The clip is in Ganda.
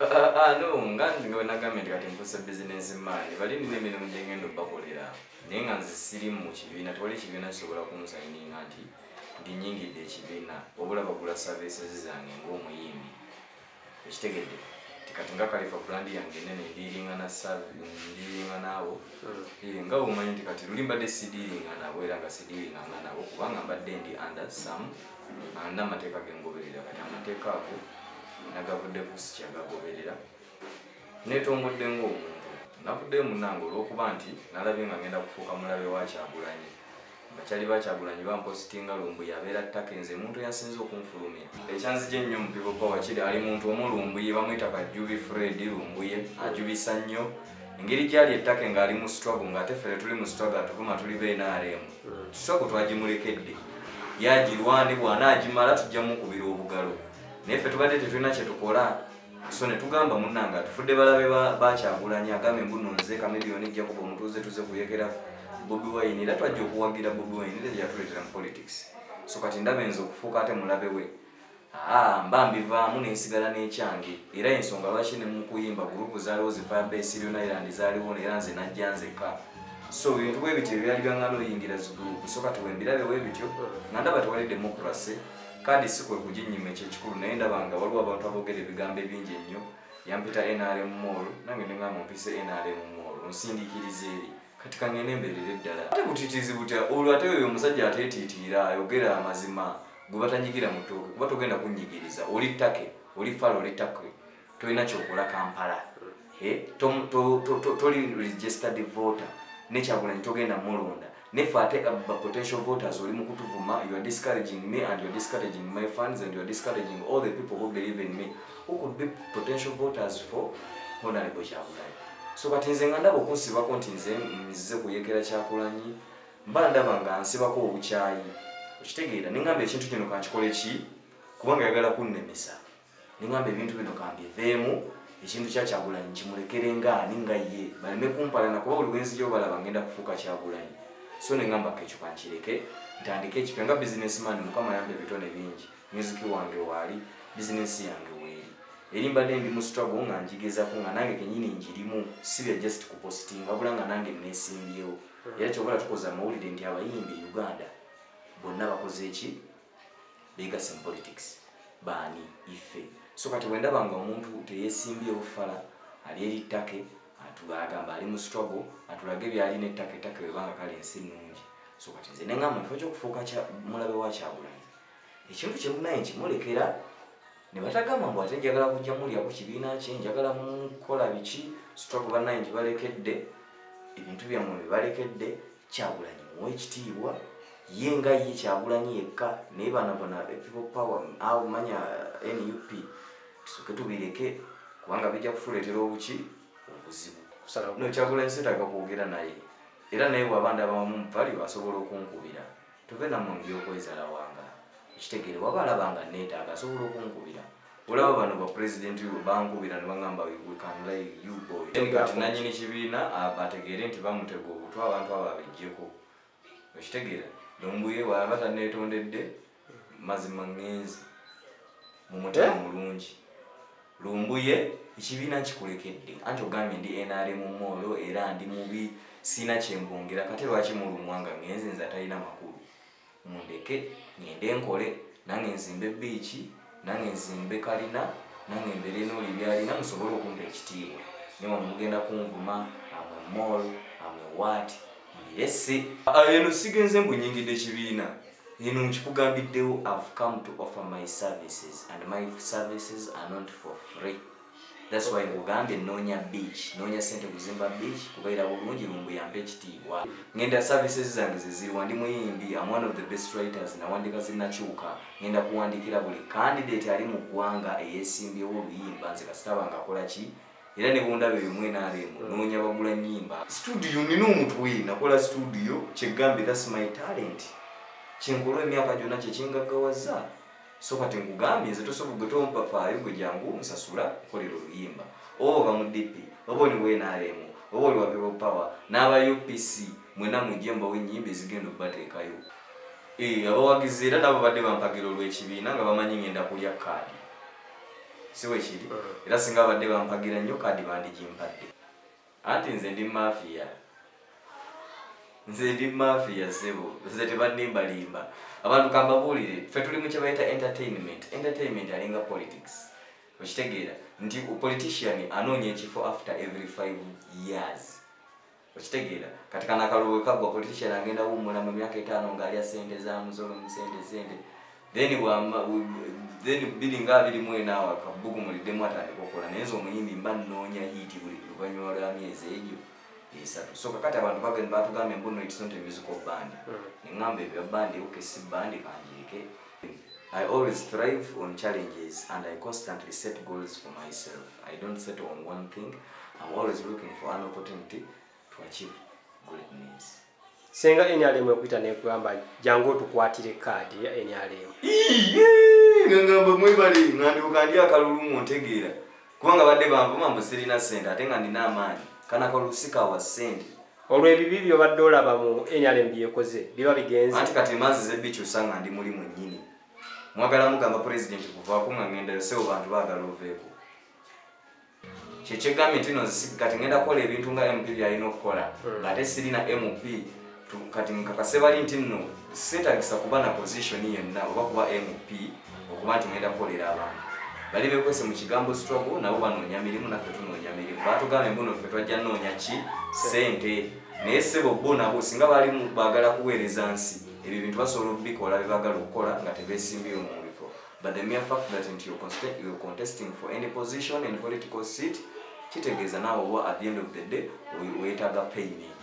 Ah, no nga nze nga wenagambye nti kati nfuuse bizinensi maani bali nina emirimu gyengenda obakolera naye nga nze siri mu kibiina tewali ekibiina kisobola kunsayininga nti ndinyingidde ekibiina obula bagula savisezi zange ngaomuyimbi ekitegedde ti kati nga kalifa brandi yange enene ndiringana ndiringa naabo hmm. nga omanyi nti kati luli mbadde sidiringa nabo era nga sidiringanga nabo kubanga mbadde ndi under some Anna amateeka gengoberera kati amateeka ago nagavudde kusi kyagagoberera netongodde ngaomuntu navuddeyo munange olwokuba nti nalabye nga ngenda kufuuka mulabe wakyagulanyi bakyali bakyagulanyi bampositinga lumbu yabeera ttaka enze muntu yasinze okunfulumya ekyanzija ennyo mupivopa wakiri ali muntu omu lumbuye bamwita kajubi fred lumbuye ajubisa nnyo engeri gyali ettaka engaali mu strago ngaate fere tuli mu strago atuvuma tuli benaremu kisoko twagimulekedde yagirwane bwana agimala tujja mukubira obugalo naye ffe tubadde tetulina kyetukola so netugamba munange atufudde balabe bakyagulanya agambe mbuno nze kamiliyoni jakuba omutuuze tuze kuyekera bobi wine era twajja okuwagira bobi wine era yatuletera mu politics so kati ndaba enza okufuuka ate mulabe we Haa mba mbivaamu ne nsigala n'ekyange era y'ensonga lwaki ne mu kuyimba guruupu zaaliwo zi Fire Base Sirion Island zaaliwo era nze najja nzekka. So ebintu bwe bityo bye byali byaŋŋana oyingira zi guruupu so kati we mbirabye bwe bityo nga ndaba tewali demokurase kaadi si kwe kuginnyima ekyo ekikulu naye ndaba nga waliwo abantu aboogera ebigambo ebingi ennyo yampita nrm mall nange ne ŋŋamba ompise nrm mall onsindikiriza eri. kati kangende mbeerere ddala ate butitiizi butya olwo ate oyo omusajja ateetiitiira ayogera amazima gwe batanyigira mu tooke kuba togenda kunnyigiriza oli ttake oli fala oli ttake tolina kyokola kampala eh, toli registered voter nekyagulanyi togenda mulonda nefe ate uh, potential voters oli mu kutuvuma youare discouraging me and youare discouraging my funds and youare discouraging all the people who believe in me who could be potential voters for honorable kyagulanyi so kati nze nga ndaba okunsibako nti nze nzize kuyekera kyakulanyi mba ndaba nga nsibako obukyayi okitegeera nengamba ekintu kino kankikole ki kubanga yagala kunnemesa nengamba ebintu bino kambiveemu ekintu kyakyagulanyi kimulekere ngaani nga ye baleme kumpalana kuba buli bwenzi gyobalaba ngenda kufuuka kyagulanyi so nengamba kekyo kankireke ntandike ekipya nga bizinesi mani mukama yampa ebitone bingi music wange waali business yange weeri eri mbadde ndi mu struggle nga njigezako nga nange kenyini njirimu sibya just kupositinga wabula nga nange nesimbyewo hmm. era kyobala tukoze amawulire nti abayimbi e uganda bonna bakoze eki begase mu politics baani ife so kati bwendaba nga omuntu teyesimbyewo fala ali eri ttake atugamba ali mu struggle atulage byalina ettaka ettaka webanga kale ensi nnungi so kati nze nengamba nfo kyokufuuka mulabe wa kyagulanyi ekintu kyemunaye nti mulekera nebatagamba mbu ate njagala kujja mulya ku kibiina kye njagala mukola biki stroke banaye nti balekedde ebintu byammwe bebalekedde kyagulanyi muwa ekitiibwa ye nga ye kyagulanyi yekka naye bana bona people power awo manya eh, nup tusoke tubireke kubanga bijja kutuleetera obuki obuzibu no kyagulanyi setaga kwogera naye era naye bwabanda abamu mupali asobola okunkubira Tove namwe mubyokwezala wanga okitegere waba alaba nga netaga asobola okunkubira olaba bano ba president yo bankubira nebangamba we can lay you boy then kati nanyini kibiina abategere nti bamutega obutwa abantu abo abejjeko okitegera nombuye waba tanetondedde mazima ngenzi mumutima eh? mulungi Lumbuye ekibiina nkikulekedde anti ogambye ndi nrm moolo era ndi mubi sirina kyembongera kate lwaki mulumwa nga ngenze nze atalina makulu mundeke ngende nkole nange nzimbe biiki nange nzimbe kalina nange mbere nooli byalina musobole okumpa ekitiibwa newano mugenda kunvuma amwe mool amwe waati mulirese ah, eno sigenze mbu nyingidde kibiina eno nkikugambiddewo ive come to offer my services and my services are not for free thats why nkugambye noonya beach noonya sente kuzimba beach kubaira bulungi lumbuyambe ekitiibwa ngenda services zange zeziriwa ndi muyimbi am one of the best writers nawandika zinakyuka ngenda kuwandikira buli candidate ali mu ggwanga eyesimbyewo oluyimba nze kasitaba ngakolaki era ne bundaba eyo mu nrm noonya bagula nnyimba studio nina omutwe nakola studio kyegambe thats my talent kyenkolwa emyaka gyonna kyekyengaggawaza so kati nkugambye nze tosobola gwe tompafaayo gwe jangu nsasula nkolera oluyimba oba oba mu dp oba oli mu nrm oba oli wa people power n'aba upc mwena mujje mbawo ennyimba ezigenda okubateekayo eh, abawagizi era nabo badde bampagira olw'ekibiina nga bamanyi ngenda kulya kaadi si bwe kiri mm. era singa abadde bampagira nnyo kaadi bandigimpadde anti nze ndi mafiya nze ndi mafiya sebo nze tebannimbalimba abantu kambabuulire ffe tuli mu kyebayita entertainment entertainment alinga politics okitegeera nti politician anoonya ekifo after every five years okitegeera kati kana akalulu wekagwa politician agenda wummula mu myaka etaano ng'alya sente za musolo mu sente sente then then biri nga abiri mu enaawo akabugu muliddemu atandika okukola naye nze omuyimbi mba nnoonya hiiti buli luvannyuma lwa myezi egyo esatu so kakati abantu bagenda batugambye mbuno it's not a musical band mm. neŋŋamba ebya bandi oke si bandi kangiike I always thrive on challenges and I constantly set goals for myself. I don't settle on one thing. I'm always looking for an opportunity to achieve greatness. Senga NRM okuita nekugamba jangu otukwatire kaadi ya NRM. Ngamba mwebale nganduka ndi akalulu mu ntegeera. Kubanga badde bamvuma mbu sirina sente ate nga nina amaanyi. Kana kalusika wa sente. Olwo ebibi byobadde olaba mu NRM byekoze biba bigenze. Anti kati emanzi zebbikyusa nga ndi muli mwennyini. Mwagala mugamba pulezidenti kuvaako nga ngendayo sebo bantu baagala oveeko. Kyekyegambye nti no kati ngenda kukola ebintu nga MP byalina okukola hmm. ng'ate sirina MP kati nkakase bali nti nno seetagisa kuba na pozisioni yenna oba kuba MP. okuba nti ngenda kukolera abantu bali bekwese mu kigambo struggle nabo banoonya mirimu naffe tunoonya mirimu batugambye mbuno ffe twajja noonya ki sente naye sebo bo nabo singa bali bagala kuweereza nsi ebyo bintu basobola okubikola bebagala okukola nga tebesimbyeyo mu bifo but the mere fact that nti you're contesting for any position and political seat kitegeeza naawe oba at the end of the day wetaaga payment